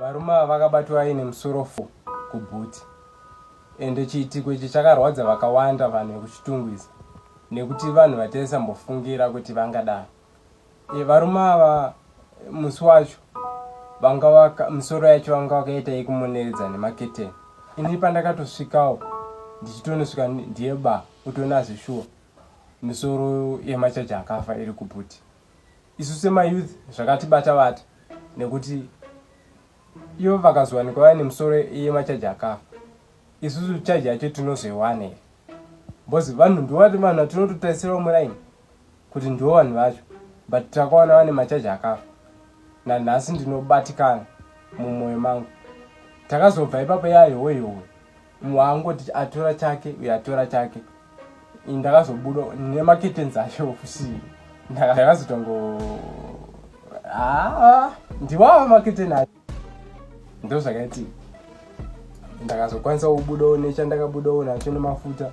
varume ava vakabatwa vaine musoro fo kubhuti ende chiitiko ichi chakarwadza vakawanda vanhu vekuchitungwiza nekuti vanhu vataisambofungira kuti vangadaro e, varume ava musi wacho vanga waka misoro yacho vanga wakaita yekumuneredza nemaketeni ini pandakatosvikawo ndichitonosvika ndiye ba utonazi shuwa misoro yemachaji akafa iri kubhuti isu semayouth zvakatibata vata nekuti ivo vakazowanikwa vaine musoro yemachaji akafa isusu chaji yacho tinozoiwana here bcause vanhu ndovati vanhu vatinototarisirawo muraini kuti ndivo vanhu vacho but takawana vane machaji akafa nanhasi ndinobatikana mumwoyo mangu takazobva ipapo yayoweyowe mumwe angoti atora chake uye atora chake ndakazobuda nemaketenzi acho ofusii ndakazotongo aa ndiwava maketeni acho ndo zvakaitii ndakazokwanisa kubudawo nechandakabudawo nacho nemafuta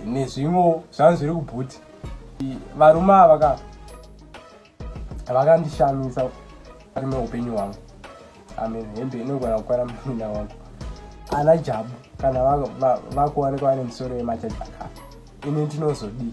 nezvimwewo zvangu zviri kubhuti varume ava ka vakandishamisa ari meupenyu hwangu amen hembe inogona kukwana muninda wangu ana jabu kana vakuwanikwa vane misoro yemachaji akafa ini ndinozodii